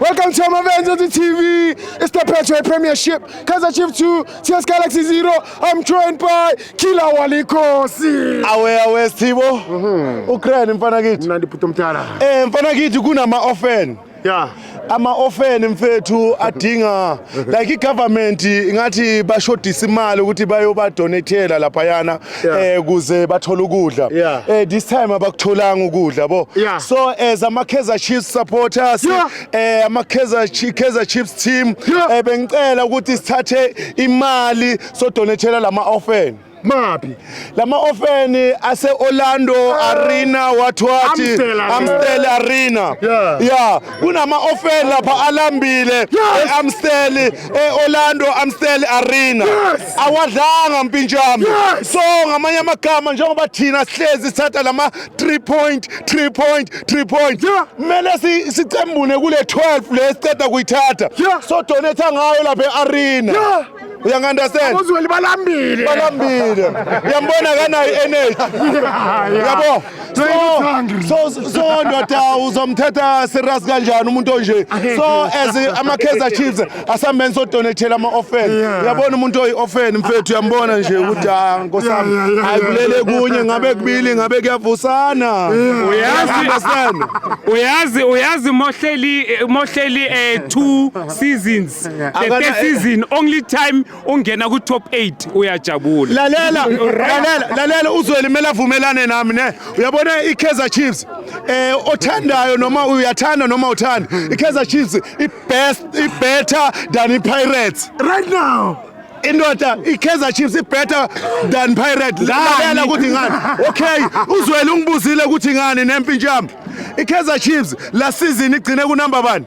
Welcome to Amavenzo TV. It's the Petro Premiership. Kaizer Chief 2, CS Galaxy 0. I'm joined by Killer Walikosi. Awe awe Stibo. Mhm. Ukraine mfana kithi. Mnandi phutho mthala. Eh mfana kithi kunama often. Yeah. Ama often mfethu adinga like i-government ingathi bashodisa imali ukuthi bayobadonethela laphayana Yeah. eh kuze bathole ukudla Yeah. eh this time abakutholanga ukudla bo Yeah. so as ama Kaizer Chiefs supporters Yeah. eh ama Kaizer Chi- Kaizer Chiefs team Yeah. eh bengicela ukuthi sithathe imali so donethela lama orphan maphi lama ofeni ase Orlando ah. Arena wathiwathi Amstel Arena yeah kunama ofeni lapha alambile eAmstel eOrlando Amstel Arena awadlanga mpinjami so ngamanye amagama njengoba thina sihlezi sithatha lama 3 point 3 point 3 point kumele sicembune kule 12 le siceda kuyithatha so donate ngayo lapha eArena uyangi-understand abozweli balambile balambile uyambona kanayo i-energy yabo so so so ndoda uzomthetha serious kanjani umuntu onje so as ama-kaizer chiefs asambeni sodonethela ama-offen uyabona umuntu oyi-offen mfethu uyambona nje ukuthi ha nkosi yami ayibulele kunye ngabe kubili ngabe kuyavusana uyazi uyazi uyazi mohleli mohleli eh, two seasons the Akana- first season only time ungena ku top 8 uyajabula lalela lalela lalela uzweli mele avumelane nami ne uyabona i-kaizer chiefs eh othandayo noma uyathanda noma uthanda i-kaizer chiefs i-best i-better than i-pirates right now indoda i-kaizer chiefs i-better than pirate lalela ukuthi ngani okay uzweli ungibuzile ukuthi ngani nempintshami i-kaizer chiefs la season igcine kunamba bani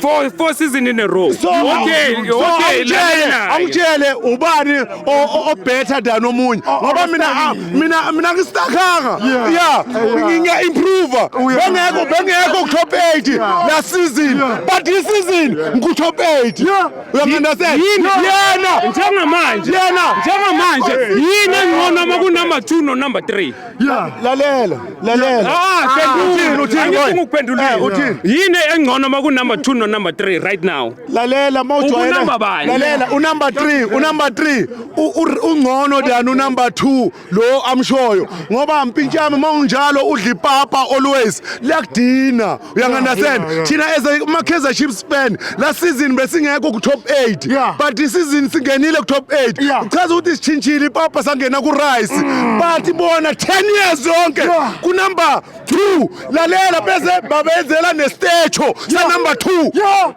four four season in a row so okay okay lana angitshele ubani o better than omunye oh, ngoba mina ah, mina mina ngistakhanga yeah nginga improve oh, bengekho bengekho top 8 last season but this season ngu top 8 uyangena se yena njengamanje yena njengamanje yini engcono uma ku number 2 no number 3 Yeah. Lalela, lalela. Ah, phendula. Uthini, uthini, boy? Angifuni ukuphendula. Eh, uthini? Yini engcono uma ku number 2 no number 3 right now? Lalela mawujwayele. Ubunamba bani? Lalela unumber 3, unumber 3. U- u- Ungcono than unumber 2 lo amshoyo. Ngoba mpintshami mawunjalo udla ipapa always. Liyakudina. uyangandastand Yeah, yeah, yeah. thina as a makaizer chiefs fan la season besingekho ku-top 8 Yeah. but isizini singenile ku-top 8 Yeah. Mm. uchaza ukuthi sishintshile ipapa sangena ku-rice but bona 10 years yonke Yeah. kunumber 2 lalela bese babenzela nestecho sanumber 2 yo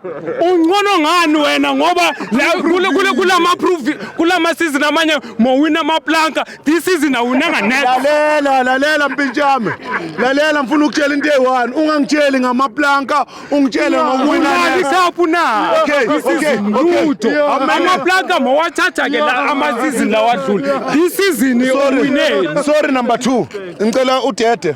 uncono ngani wena ngoba la- kule- kule- kulama proof kulama season amanye mowina amaplanka This season awunanga net. Lalela lalela mpintshame. Lalela ngifuna ukutshela into eyi-one. Ungangitsheli ngamaplanka, ungitshele ngokuwina. Imali kaphu na. Okay, This okay, season okay. lutho. Yeah. Amaplanka mawathatha ke la ama season lawadlula. This season uwineni. Sorry number 2. Ngicela udede.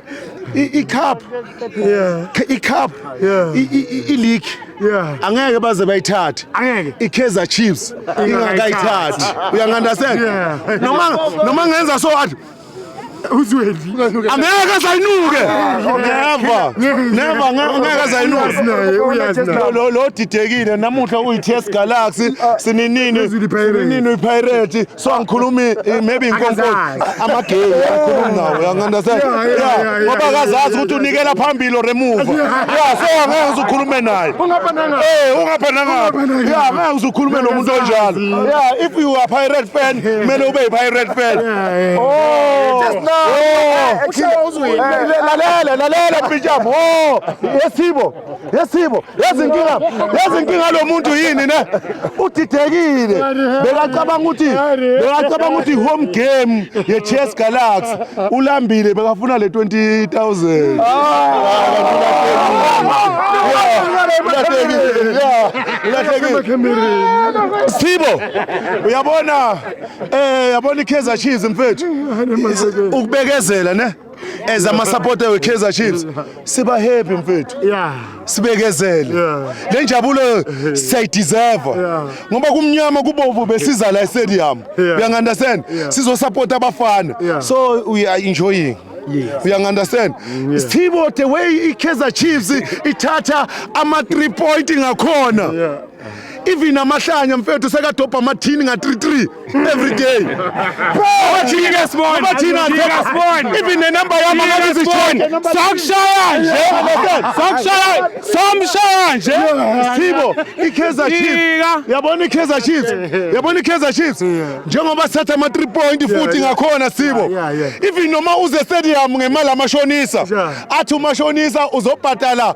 i-cup i-cup i-league angeke baze bayithathe i-kaizer chiefs ingakayithathi uyangandastand noma ngenza so athi uzwendi angeke azayinuke never never ngeke azayinuke lo didekile namuhla uyi-test galaxy sininini sininini uyipirate so angikhulumi eh, maybe inkonko amagay angikhulumi nawo uyangandastand yeah ngoba akazazi ukuthi unikela phambili or emuva yeah so angeke ngizukhulume naye eh ungaphanangaphi yeah angeke ngizukhulume nomuntu onjalo yeah if you are pirate fan kumele ube pirate fan oh just now oh. lalela lalela pitjam oh yesibo yesibo yezinkinga yezinkinga lo muntu yini ne udidekile bekacabanga ukuthi bekacabanga ukuthi home game ye Chess Galaxy ulambile bekafuna le 20000 Sibo uyabona eh yabona iKaizer Chiefs mfethu ukubekezela ne as amasapota we-kaizer chiefs siba happy mfethu sibekezele le njabulo siyayideserve ngoba kumnyama kubovu besiza la estadium uyangi-understand sizosapota abafana so we are enjoying yes. uyangi-understand mm, yes. sthibo the way i-kaizer chiefs ithatha ama-three point ngakhona yeah. even amahlanya mfethu sekadobha amathini nga-33 every day even nenumber yami akazizishoni sakushaya nje sakushaya samshaya nje sithibo i-kaizer chiefs yabona i-kaizer chiefs yabona i-kaizer chiefs njengoba sithatha ama-3 point futhi ngakhona sibo even noma uze stadium ngemali amashonisa athi umashonisa uzobhadala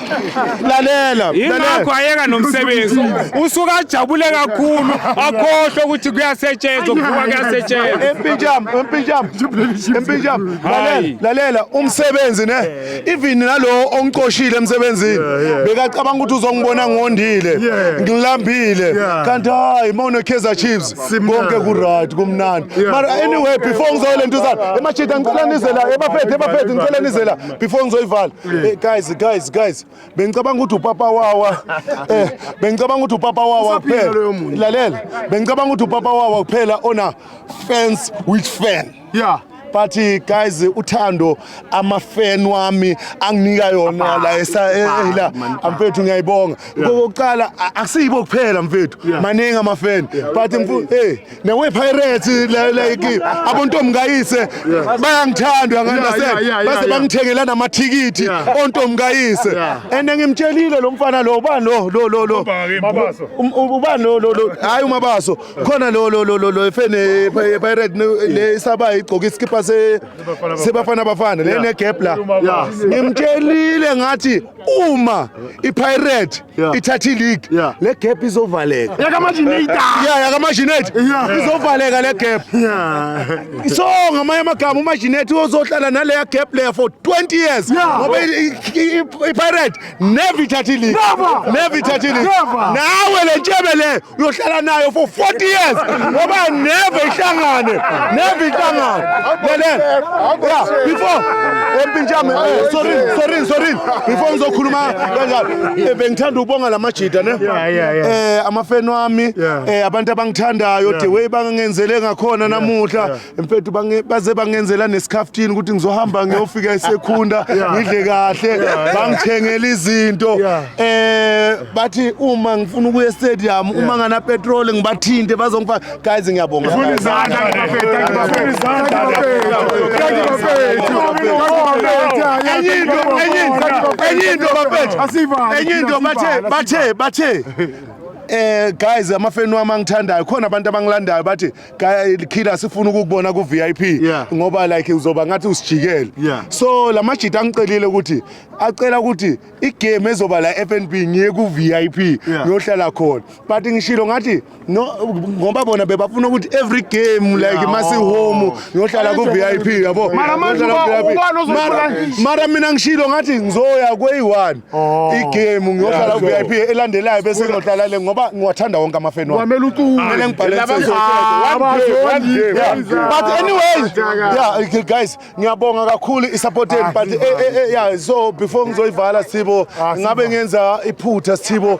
lalela yingakho ayeka nomsebenzi usuke ajabule kakhulu akhohlwe ukuthi kuyasetshenzwa kuvuka kuyasetshenzwa empinjam empinjam empinjam lalela lalela umsebenzi ne even nalowo ongicoshile emsebenzini bekacabanga ukuthi uzongibona ngondile ngilambile kanti hayi uma unekaizer chiefs konke kuright kumnandi mara anyway before ngizole ntuzana emachita ngicela nizela ebafethu ebafethu ngicela nizela before ngizoyivala mm. eh, guys guys guys bengicabanga ukuthi upapa wawa eh bengicabanga ukuthi upapa wawa kuphela lalela bengicabanga ukuthi upapa wawa kuphela ona fans with fan yeah but eh, guys uthando amafan wami anginika yona la esayela eh, mfethu ngiyayibonga kokuqala akusiyibo kuphela mfethu maningi amafan but mfethu hey newePirates like abontombi kayise bayangithanda nganase base bangithengela namathikithi ontombi kayise and ngimtshelile lo mfana lo ubani lo lo lo lo um, um, ubani lo lo lo hayi umabaso khona lo lo lo lo efene Pirate le isaba igcoka iskipa se sebafana bafana le ne gap la ngimtshelile ngathi uma iPirate Yeah. ithatha ileague Yeah. le gap izovaleka Yakamajinita. ya yakamajineti izovaleka le gap so ngamanye amagama umajineti uzohlala naleya gap leya for 20 years Yeah. ngoba i- i- i- ipirate never ithatha ileague Never. never ithatha ileague Never. nawe le ntshebe le uyohlala nayo for 40 years ngoba never ihlangane never ihlangane lelele yeah before empinjame eh, sorry sorry sorry before ngizokhuluma kanjalo eh, bengithanda ukubonga lamajida ne eh amafeni wami eh abantu abangithandayo the way bangenzele ngakhona namuhla mfethu bange- baze bangenzela nesikhaftini ukuthi ngizohamba ngiyofika esekhunda ngidle kahle bangithengela izinto Yeah. eh bathi uma ngifuna ukuya estadium uma ngana petrol ngibathinte bazongifaka guys ngiyabonga Funa izandla ngibafethu, ngibafethu, izandla ngibafethu, ngibafethu, ngibafethu. enye into enye into enye into bafethu Asivale, enye into bathe asivale, bathe bathe eh guys amafeni wami angithandayo khona abantu abangilandayo bathi killer sifuna ukukubona ku VIP yeah. ngoba like uzoba ngathi usijikele yeah. so lamajita angicelile ukuthi acela ukuthi igame ezoba la FNB ngiye ku VIP yeah. ngiyohlala khona but ngishilo ngathi no ngoba bona bebafuna ukuthi every game like yeah. masi oh. home ngiyohlala ku VIP yabo mara mina ngishilo ngathi ngizoya kweyi-one Oh. igame ngiyohlala Yeah, ku-vip so- elandelayo bese ngiyohlala le ngoba ngiwathanda wonke amafeni wami kwamele ucule Kumele ngibhale Laba insizwa. Ah, One day, one abazondi- day, Yeah. one day. But anyway, Ataka. yeah, okay, guys, ngiyabonga kakhulu i-support yenu but eh, eh, eh, yeah, so before ngizoyivala Sithibo, ngabe ngenza iphutha Sithibo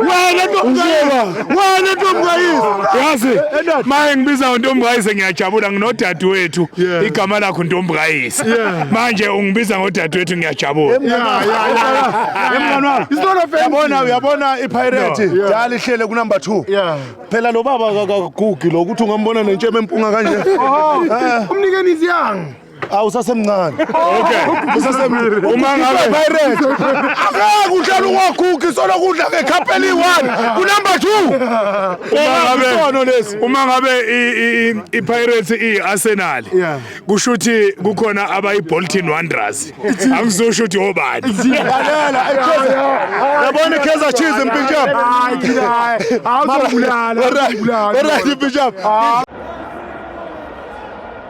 wena ntombukayise wena ntombukayise yazi maye ngibiza untombukayise ngiyajabula nginodadewethu igama lakho ntombukayise manje ungibiza ngodadewethu ngiyajabula uyabona uyabona ipirate dala ihlele kunumber two phela lo baba akagugi lo ukuthi ungambona nentshebe empunga kanje oh, eh. umnikeni iziyanga awu usasemncane Okay. usasemncane Uma ngabe- pirate angeke uhlale ungagugi solo kudla ngekhapeli one kunumber two Uma ngabe- Isono lesi. uma ngabe i- i- i- ipirates i-arsenal Yeah. kusho ukuthi kukhona abayi-bolton wanderers angizosho ukuthi obani lalela iKaizer yabona iKaizer Chiefs impinjam Hayi thina hayi. Awuzobulala. Alright, alright, impinjam